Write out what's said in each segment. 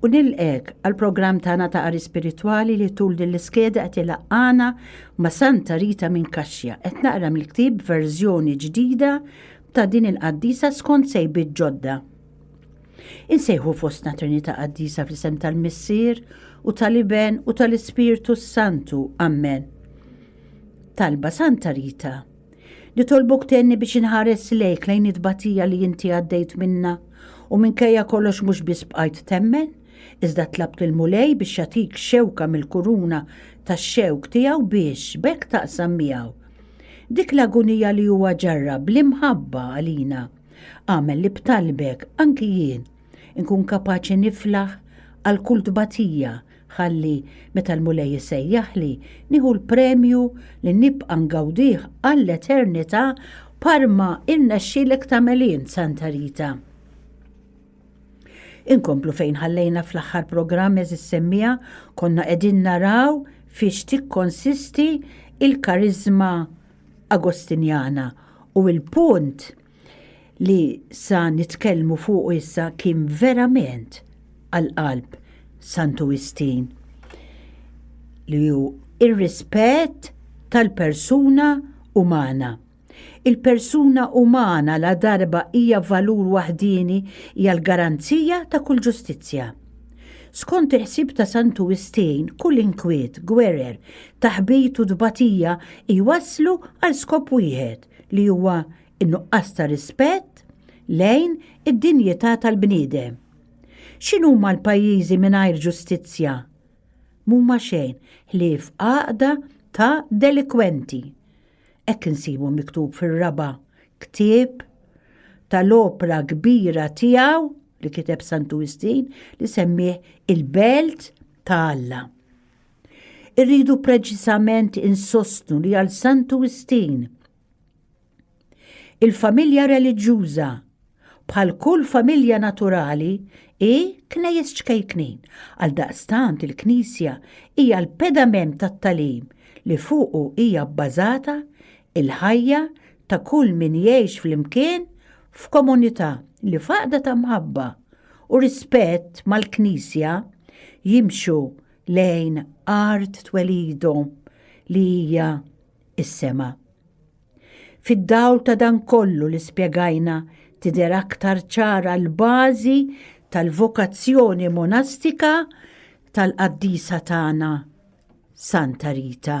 U nilqek għal programm tagħna ta' qari spiritwali li tul din l-iskeda qed ilaqqana ma' Santa Rita minn Kaxja qed naqra mill-ktieb verżjoni ġdida ta' din il-qaddisa skont sejbiet ġodda. Insejħu fostna Trinità Qaddisa fl-isem tal-Missier u tal-Iben u tal-Ispirtu s-Santu. Amen. Talba Santa Rita. Nitolbok tenni biex inħares lejk lejn it-tbatija li inti għaddejt minna u minkejja kollox mhux biss bqajt temmen, iżda tlabt lil Mulej biex jagħtik xewka mill-kuruna tax-xewk tiegħu biex b'hekk taqsam miegħu dik l-agunija li huwa ġarrab bl-imħabba għalina. Agħmel li b'talbek anki jien inkun kapaċi niflaħ għal kull tbatija Ħalli, meta l-Mulej isejjaħli, nieħu l-premju li nibqa' ngawdih għall-eternità bħal ma rnexxielek tagħmel int, Santa Rita. Inkomplu fejn ħallejna fl-aħħar programm eżis semmija konna qegħdin naraw fiex tikkonsisti il-karizma Agostinjana u il-punt li sa nitkellmu fuqu issa kien verament għal qalb Santu Wistin li hu r-rispett tal-persuna umana. Il-persuna umana la darba hija valur waħdieni hija l-garanzija ta' kull ġustizzja. Skont il-ħsieb ta' Santu Wistin kull inkwiet, gwerer, taħbit u tbatija jwasslu għal skop wieħed, li huwa n-nuqqas ta' rispett lejn id-dinjità tal-bniedem. X'inhuma l-pajjiżi mingħajr ġustizzja? M'huma xejn ħlief għaqda ta' delikwenti. Hekk insibu miktub fir-raba' ktieb tal-opra kbira tiegħu li kiteb Santu Wistin li semmih il-belt ta' Alla. Irridu preċiżament insostnu li għal Santu Wistin il-familja reliġjuża bħal kull familja naturali i knejjes ċkejknin. Għal daqstant il-Knisja hija l-pedament tat-talim li fuqu hija bbażata il-ħajja ta' kull min jgħix flimkien f'komunità li faqda ta' mħabba u rispett mal-Knisja jimxu lejn art twelidu li hija is-sema. Fid-dawl ta' dan kollu li spjegajna tidher aktar ċara l-bażi tal-vokazzjoni monastika tal-qaddisa tagħna Santa Rita.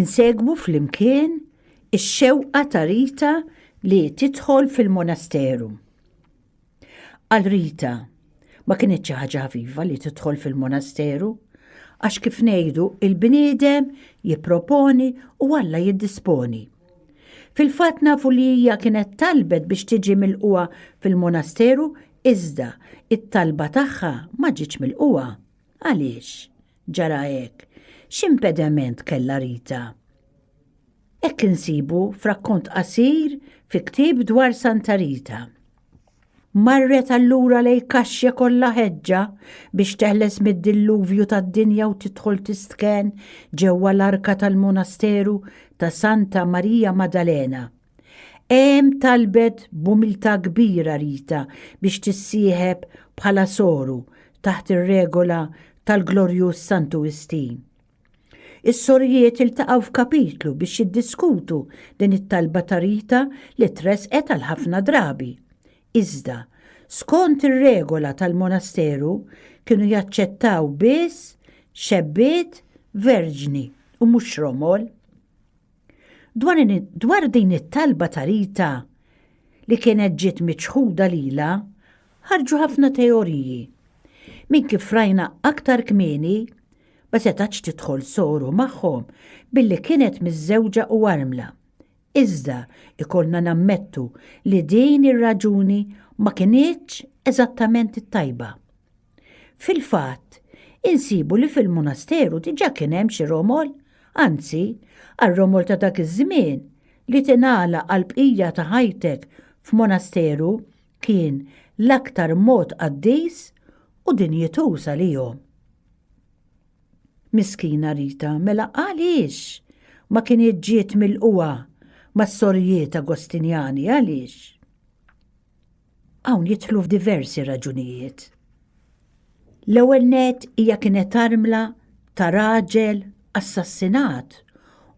Insegwu fl-imkien ix-xewqa ta' Rita li tidħol fil-monasteru. Għal Rita, ma kienet xi ħaġa ħafifa li tidħol fil-monasteru, għax kif ngħidu il-bniedem jipproponi u Alla jiddisponi. Fil-fatt nafu li hija kienet talbet biex tiġi milqugħa fil-monasteru iżda t-talba tagħha ma ġietx milqugħa. Għaliex ġara hekk? X'impediment kellha Rita? Hekk insibu f'rakkont qasir fi ktieb dwar Santa Rita. Marret allura lej kaxja kollha ħeġġa biex teħles mid-dilluvju tad-dinja u tidħol tistken ġewwa l-arka tal-monasteru ta' Santa Marija Maddalena. Hemm talbet b'umiltà kbira Rita biex tissieħeb bħala soru taħt ir-regola tal-glorjuż Santu Wistin. Is-sorijiet iltaqgħu f'kapitlu biex jiddiskutu din it-talba ta' Rita li tressqet għal ħafna drabi. Iżda, skont ir-regola tal-monasteru, kienu jaċċettaw biss xebbiet verġni u mhux romol. Dwar din it-talba ta' Rita li kienet ġiet miċħuda lilha, Ħarġu ħafna teoriji. Minn kif rajna aktar kmieni, ma setgħetx tidħol soru magħhom billi kienet miżżewġa u armla. Iżda jkollna nammettu li din ir-raġuni ma kinitx eżattament it-tajba. Fil-fatt, insibu li fil-munasteru diġà kien hemm xi romol, anzi, għar-romol ta' dak iż-żmien, li tingħalaq għall-bqija ta' ħajtek f'munasteru kien l-aktar mod qaddis u dinjituż għalihom. Miskina Rita, mela għaliex ma kienet ġiet milquha mas-sorijiet Agostinjani, għaliex? Hawn jidħlu f'diversi raġunijiet. L-ewwel nett hija kienet armla ta' raġel assassinat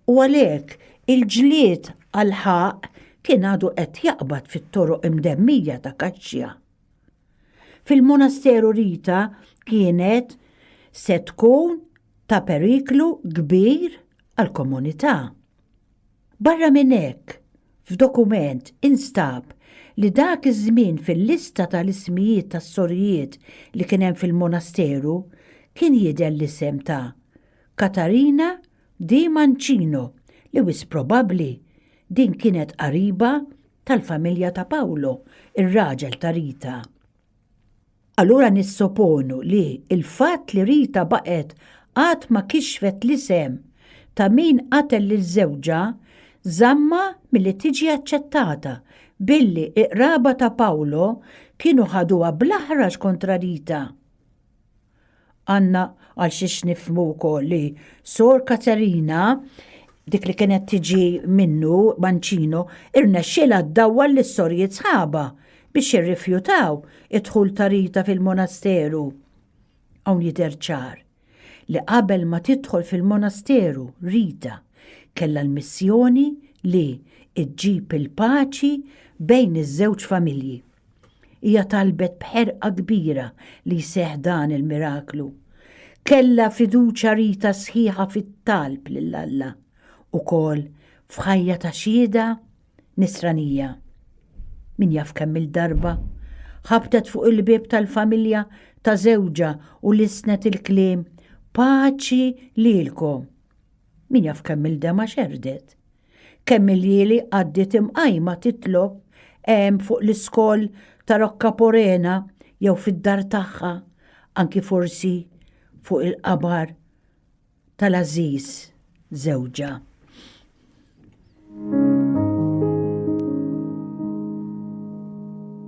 u għalhekk il-ġlied għall-ħaqq kien għadu qed jaqbad fit-toroq imdemmija ta' Kaxxja. Fil-Monasteru Rita kienet se tkun ta' periklu kbir għall-komunità. Barra minn hekk, f'dokument instab li dak iż-żmien fil-lista tal-ismijiet tas-sorijiet li kien hemm fil-monasteru kien jidher l-isem ta' Katarina di Mancino li wisq probabbli din kienet qariba tal-familja ta' Pawlo, ir-raġel ta' Rita. Allura nissoponu li il-fatt li Rita baqgħet għad ma kixfet l-isem ta' min qatel lil żewġha żammha milli tiġi aċċettata billi iqraba ta' Paolo kienu ħaduha bl-aħrax kontra Rita. Għanna għal xiex nifmu wkoll li Sor Katerina dik li kienet tiġi minnu Mancino irnexxielha ddawwal lis sorjiet sħaba biex irrifjutaw id-dħul ta' Rita fil-monasteru. Hawn jidher ċar li qabel ma tidħol fil-monasteru Rita kellha l-missjoni li ġġib il-paċi bejn iż-żewġ familji. Hija talbet b'ħerqa kbira li jseħħ dan il-miraklu. Kellha fiduċja rita sħiħa fit-talb lil Alla, ukoll f'ħajja ta' xhieda Nisranija. Min jaf kemm-il darba ħabtet fuq il-bieb tal-familja ta' żewġha u lissnet il-kliem Paċi lilkom! Min jaf kemm-il dema xerrdet! Kemm il-lieli għaddiet imqajma titlob hemm fuq l-iskol ta' Rocca Porena jew fid-dar tagħha, anki forsi fuq il-qabar tal-għażiż żewġha.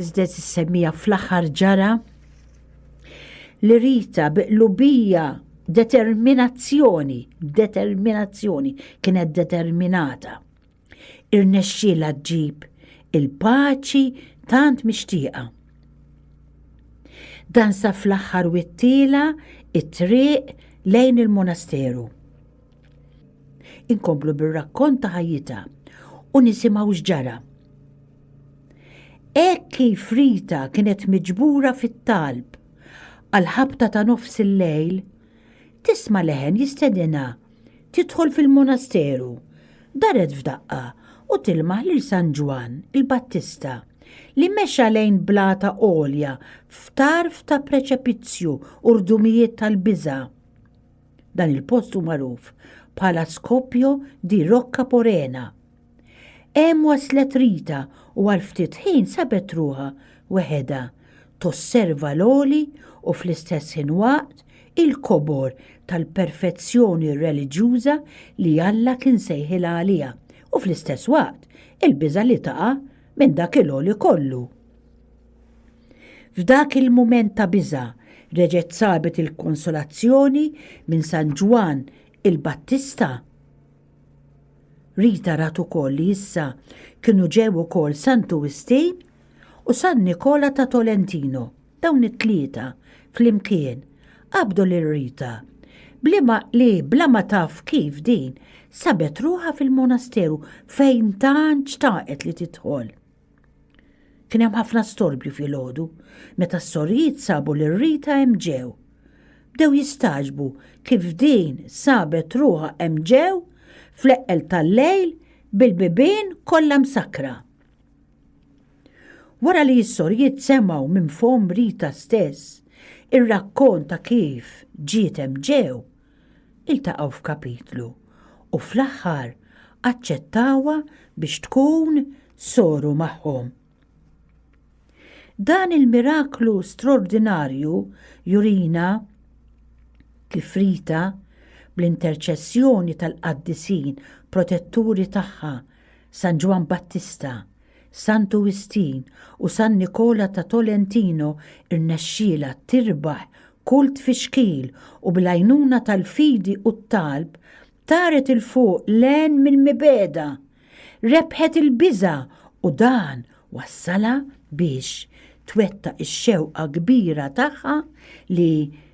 Iżda tissemmija fl-aħħar ġara li Rita bi qlubija determinazzjoni, determinazzjoni, kienet determinata. Irnexxielha ġġib il-paċi tant mixtieqa. Dan sa fl-aħħar wittiela it-triq lejn il-monasteru. Inkomplu bir-rakkont ta' ħajjita u nisimgħu x'ġara. Hekk kif Rita kienet miġbura fit-talb għall-ħabta ta' nofs il-lejl, tisma' leħen jistedinha tidħol fil-monasteru, daret f'daqqa u tilmaħ lil San Ġwann il-Battista li mexa lejn blata għolja f'tarf ta' preċepizzju u rdumijiet tal-biża'. Dan il-post hu magħruf bħala Scoppio di Rocca Porena. Hemm waslet Rita u għal ftit ħin sabet ruħha weħedha, tosserva l-għoli u fl-istess ħin waqt il-kobor tal-perfezzjoni reliġjuża li Alla kien sejħilha għaliha u fl-istess waqt il-biża' li taqa' minn dak il-għoli kollu. F'dak il-mument ta' biża' reġgħet sabet il-konsolazzjoni minn San Ġwann il-Battista. Rita rat ukoll li issa kienu ġew ukoll Santu Wistin u San Nikola ta' Tolentino. Dawn it-tlieta flimkien qabdu lil Rita bliema li bla ma taf kif din sabet ruħha fil-monasteru fejn tant xtaqet li tidħol. Kien hemm ħafna storbju filgħodu meta s-sorijiet sabu lil Rita hemm ġew. Bdew jistaġbu kif din sabet ruħha hemm ġew fl-eqqel tal-lejl bil-bibien kollha msakkra. Wara li s-sorijiet semgħu minn fomm Rita stess ir-rakkont ta' kif ġiet hemm ġew, iltaqgħu f'kapitlu u fl-aħħar aċċettawha biex tkun soru magħhom. Dan il-miraklu straordinarju jurina kif Rita bl-interċessjoni tal-qaddisin protetturi tagħha San Ġwann Battista San Tuwistin u San Nikola ta' Tolentino rnexxielha tirbaħ kull tfixkil u bil-għajnuna tal-fidi u t-talb taret 'il fuq l-għen mill-mibegħda. Rebħet il-biża' u dan wassalha biex twettaq ix-xewqa kbira tagħha li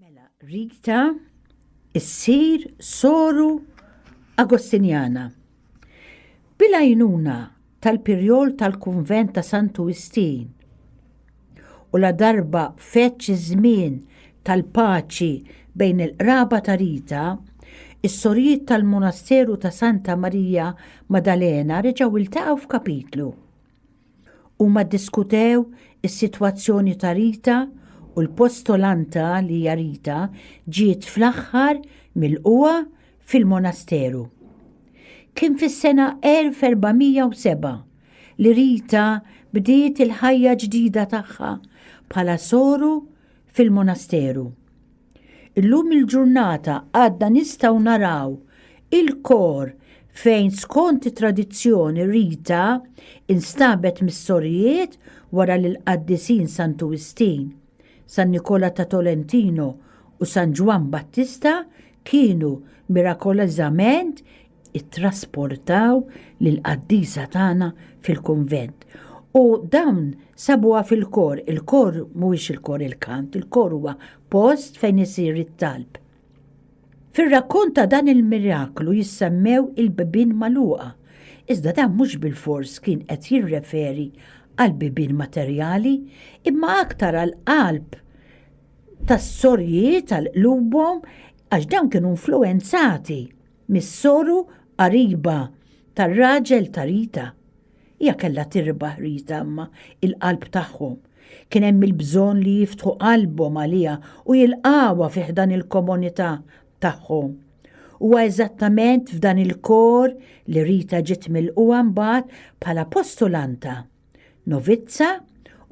Mela Rita issir soru Agostinjana. Bil-għajnuna tal-pirjol tal-kunvent ta' Santu Wistin u la darba feċ iż-żmien tal-paċi bejn il-qraba ta' Rita, is-sorijiet tal-Monasteru ta' Santa Marija Madalena reġgħu iltaqgħu f'kapitlu. Huma ddiskutew is-sitwazzjoni ta' Rita u l-postolanta li hija Rita ġiet fl-aħħar milqugħa fil-monasteru. Kien fis-sena 1407 li Rita bdiet il-ħajja ġdida tagħha bħala soru fil-monasteru. Illum il-ġurnata għadna nistgħu naraw il-kor fejn skont it-tradizzjoni Rita instabet mis-sorijiet wara li l-qaddisin Santu Wistin, San Nikola ta' Tolentino u San Ġwann Battista kienu mirakolożament ittrasportaw lill-qaddisa tagħna fil-kunvent. U dawn sabuha fil-kor, il-kor mhuwiex il-kor il-kant, il-kor huwa post fejn isir it-talb. Fir-rakkont ta' dan il-miraklu jissemmew il-bibien magħluqa, iżda dan mhux bilfors kien qed jirreferi għal bibien materjali, imma aktar għall-qalb tas-sorjiet, għal qlubhom, għax dawn kienu influwenzati Mis-soru qariba tar-raġel ta' Rita. Hija kellha tirbaħ Rita imma il-qalb tagħhom. Kien hemm il-bżonn li jiftħu qalbhom għaliha u jilqgħuha fi ħdan il-komunità tagħhom. Huwa eżattament f'dan il-kor li Rita ġiet milqugħa mbagħad bħala postulanta, novizza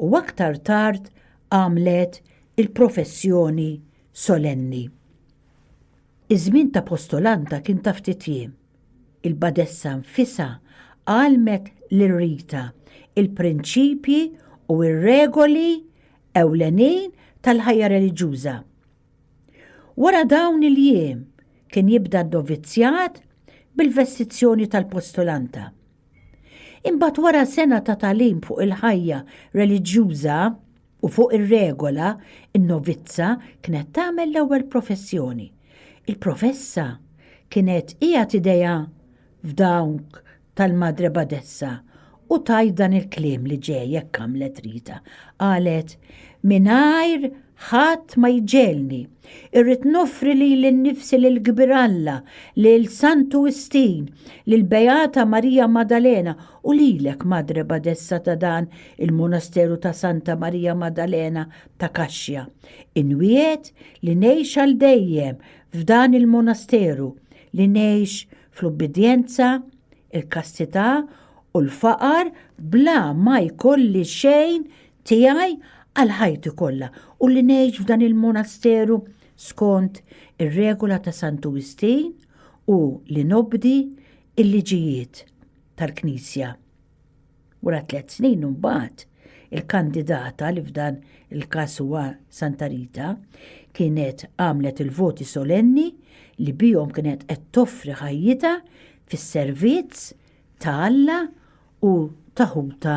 u aktar tard għamlet il-professjoni solenni. Iż-żmien ta' postolanta kien ta' ftit jiem. Il-badessa nfisha għallmet lil Rita l-prinċipji u r-regoli ewlenin tal-ħajja reliġjuża. Wara dawn il-jiem kien jibda n-novizzjat bil-vestizzjoni tal-postolanta. Imbagħad wara sena ta' tagħlim fuq il-ħajja reliġjuża, U fuq ir-regola, in-novizza kienet tagħmel l-ewwel professjoni. Il-professa kienet qiegħed idejha f'dawk tal-Madre Badessa u tgħid dan il-kliem li ġej hekk għamlet Rita. Qalet, Mingħajr ħadd ma jġelni. Irrid noffri lili nnifsi lil Kbir Alla, lil Santu Wistin, lil Beata Marija Maddalena U lilek, Madre Badessa ta' dan il-Monasteru ta' Santa Marija Maddalena ta' Kaxxja, inwiegħed li ngħix għal dejjem f'dan il-Monasteru, li ngħix fl-ubbidjenza, il-kastità u l-faqar bla ma jkolli xejn tiegħi għal ħajti kollha u li ngħix f'dan il-Monasteru skont ir-regola ta' Santu Wistin u li nobdi l-liġijiet. tal-Knisja. Wara tliet snin imbagħad, il-kandidata li f'dan il-każ huwa Santa Rita kienet għamlet il-voti solenni li bihom kienet qed toffri ħajjitha fis-servizz ta' Alla u taħuta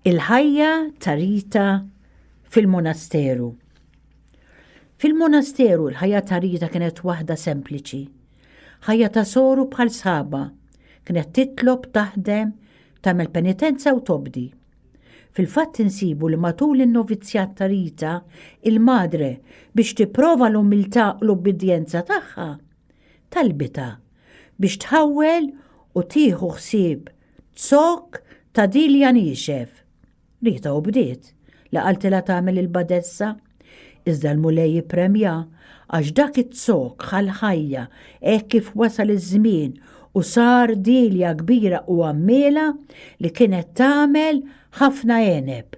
Il-ħajja ta' Rita fil-monasteru. Fil-monasteru l-ħajja ta' Rita kienet waħda sempliċi. Ħajja ta' soru bħal sħaba. Kienet titlob, taħdem, tagħmel penitenza u tobdi. Fil-fatt insibu li matul in-novizzjat ta' Rita, il-madre biex tipprova l-umiltà u l-ubbidjenza tagħha, talbitha biex tħawwel u tieħu ħsieb Zokk ta' Dilja niexef. Rita u bdiet li qaltilha tagħmel il-badessa. Iżda l-Mulej ippremja għax dak iz-zokk ħa l-ħajja hekk kif wasal iż-żmien u sar Dilja kbira u għammiela li kienet tagħmel ħafna għeneb.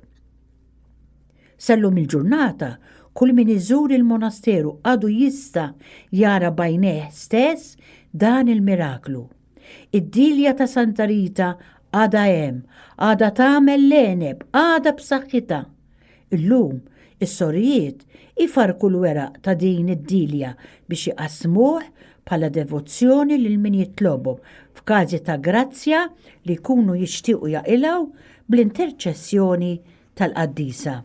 Sal-lum il-ġurnata kull min iżur il-monasteru għadu jista' jara b'għajnejh stess dan il-miraklu. Id-Dilja ta' Santa Rita għadha hemm, għadha tagħmel l-għeneb, għadha b'saħħitha. Illum, is-sorijiet ifarrku l-weraq ta' din id-Dilja biex iqassmuh bħala devozzjoni lil min jitlobhom, f'każi ta' grazzja li jkunu jixtiequ jaqilgħu bl-interċessjoni tal-Qaddisa.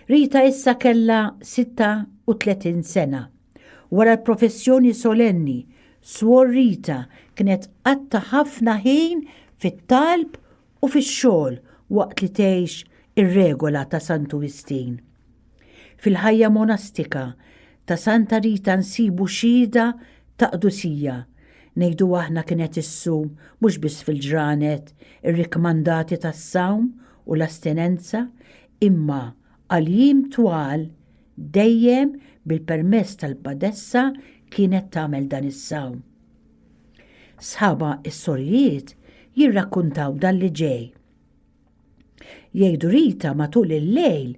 Rita issa kellha 36 sena. Wara l-professjoni solenni, Swor Rita kienet qatta' ħafna ħin fit-talb u fix-xogħol waqt li tgħix ir-regola ta' Santu Wistin. Fil-ħajja monastika ta' Santa Rita nsibu xhieda ta' qdusija, ngħidu aħna kienet issum mhux biss fil-ġranet irrikkmandati tas-sawm u l-astinenza imma għal jiem twal dejjem bil-permess tal-badessa kienet tagħmel dan is-sawm. Sħabha s-sorijiet jirrakkuntaw dan li ġej. Jgħidu Rita matul il-lejl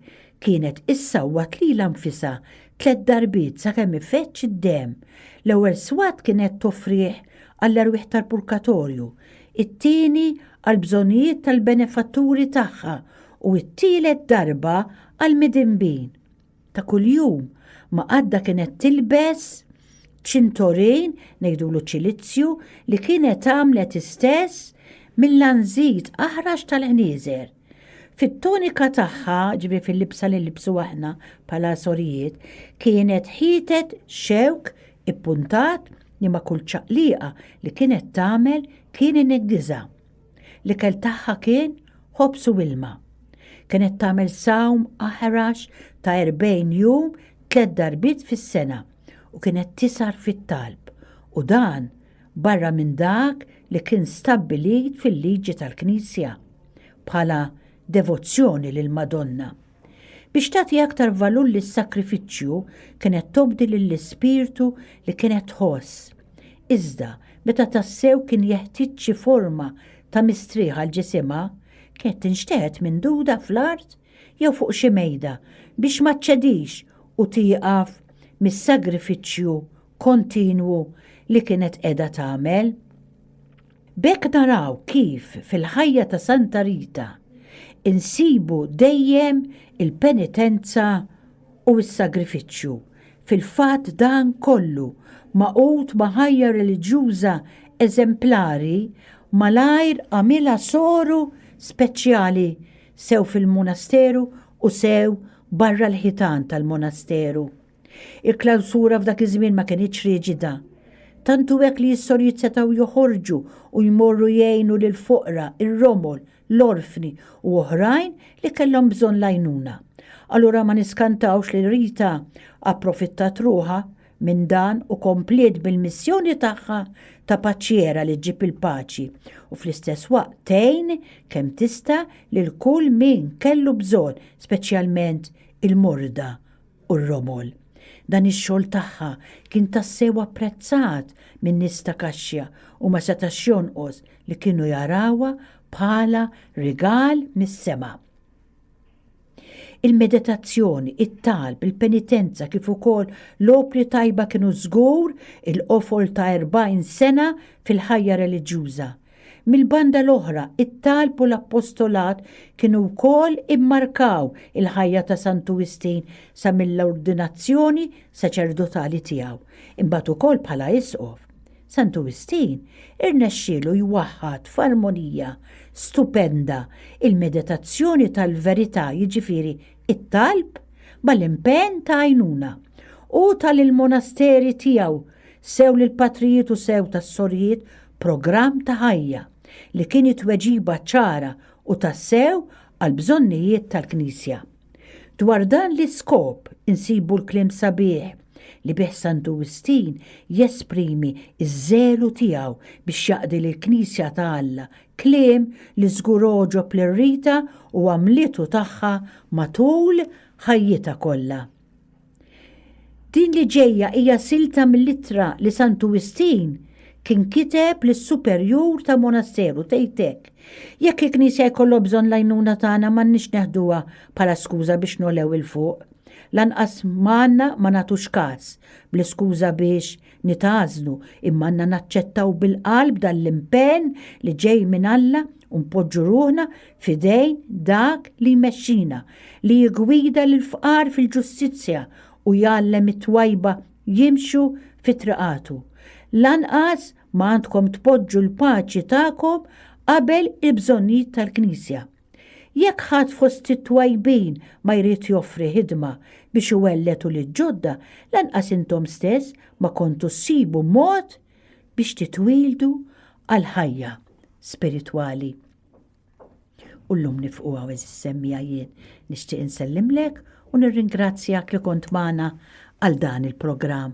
kienet issawwat lilha nfisha tliet darbiet sakemm ifeġġ id-demm. L-ewwel swat kienet toffrih għall-erwieħ tal-purkatorju, it-tieni għall-bżonnijiet tal-benefatturi tagħha u t-tielet darba għall-midinbin. Ta' kuljum ma għadda kienet tilbes ċintorin ngħidulu ċilizzju li kienet għamlet istess mill-għanżid aħrax tal-ħnieżer. Fit-tonika tagħha, ġifieri fil-libsa li nlibsu aħna bħala sorijiet, kienet ħietet xewk ippuntat li ma' kull ċaqliqa li kienet tagħmel kien ineggiżha. L-ikel tagħha kien ħobż u ilma. Kienet tagħmel sawm aħrax ta' erbgħin jum tliet darbiet fis-sena u kienet tisgħar fit-talb u dan barra minn dak li kien stabbilit fil-liġi tal-Knisja bħala devozzjoni lill-Madonna. Biex tagħti aktar valur lis-sagrifiċċju kienet tobdi lill-ispirtu li kienet tħoss. Iżda meta tassew kien jeħtieġ xi forma ta' mistrieħ għal ġisimha, kienet tinxteħet minduda fl-art jew fuq xi mejda biex ma ċċedix u tieqaf mis-sagrifiċċju kontinwu li kienet qiegħda tagħmel. B'hekk naraw kif fil-ħajja ta' Santa Rita insibu dejjem il-penitenza u s-sagrifiċċju, fil-fatt dan kollu magħqud ma' ħajja reliġjuża eżemplari malajr għamilha soru speċjali sew fil-munasteru u sew barra l-ħitan tal-munasteru. Il-klawsura f'dak iż-żmien ma kinitx riġida. Tant hu hekk li s-sorijiet setgħu joħorġu u jmorru jgħinu lill-foqra, ir-romol, l-orfni u oħrajn li kellhom bżonn l-għajnuna. Allura ma niskantawx li Rita approfittat ruħha minn dan u kompliet bil-missjoni tagħha ta' paċiera li ġġib il-paċi u fl-istess waqt tgħin kemm tista' lil kull min kellu bżonn, speċjalment il-morda u r-romol. Dan ix-xogħol tagħha kien tassew apprezzat min-nies ta' Kaxxja u ma setax jonqos li kienu jarawha bħala rigal mis-sema. Il-meditazzjoni, it-talb, il-penitenza kif ukoll l-opri tajba kienu żgur il-qofol ta' 40 sena fil-ħajja reliġjuża. Mill-banda l-oħra, it-talb u l-appostolat kienu wkoll immarkaw il-ħajja ta' Santu Wistin sa mill-ordinazzjoni saċerdotali tiegħu, imbagħad ukoll bħala isqof. Santu Wistin irnexxielu jwaħħad f'armonija stupenda il-meditazzjoni tal-verità, jiġifieri t-talb, mal-impenn ta' għajnuna. Hu ta lill-monasteri tiegħu sew lill-patrijiet u sew tas-sorijiet programm ta' ħajja li kien it-tweġiba ċara u tassew għall-bżonnijiet tal-Knisja. Dwar dan l-iskop insibu l-kliem sabiħ li bih Santu Wistin jesprimi ż-żelu tiegħu biex jaqdi lill-Knisja ta' Alla, kliem li żgur għoġob lil Rita u għamlitu tagħha matul ħajjitha kollha. Din li ġejja hija silta mill-ittra li Santu Wistin kien kiteb lis-superjur ta' monasteru tgħid hekk, Jekk il-Knisja jkollha bżonn l-għajnuna tagħna m'għandniex neħduha bħala skuża biex ngħolew 'il fuq. Lanqas ma għandna ma nagħtux każ bl-iskuża biex nitgħażlu imma għandna naċċettaw bil-qalb dan l-impenn li ġej minn Alla u npoġġu ruħna f'idejn dak li jmexxina, li jiggwida lill-fqar fil-ġustizzja u jgħallem it-twajba jimxu fi triqatu. Lanqas ma għandkom tpoġġu l-paċi tagħkom qabel il-bżonnijiet tal-Knisja. Jekk ħadd fost it-twajbin ma jrid joffri ħidma biex iwelletu lill-ġodda, lanqas intom stess ma kontu ssibu mod biex titwieldu għall-ħajja spiritwali. U llum nifqu hawn għeżież semmiegħa jien nixtieq insellimlek u nirringrazzjak li kont magħna għal dan il-programm.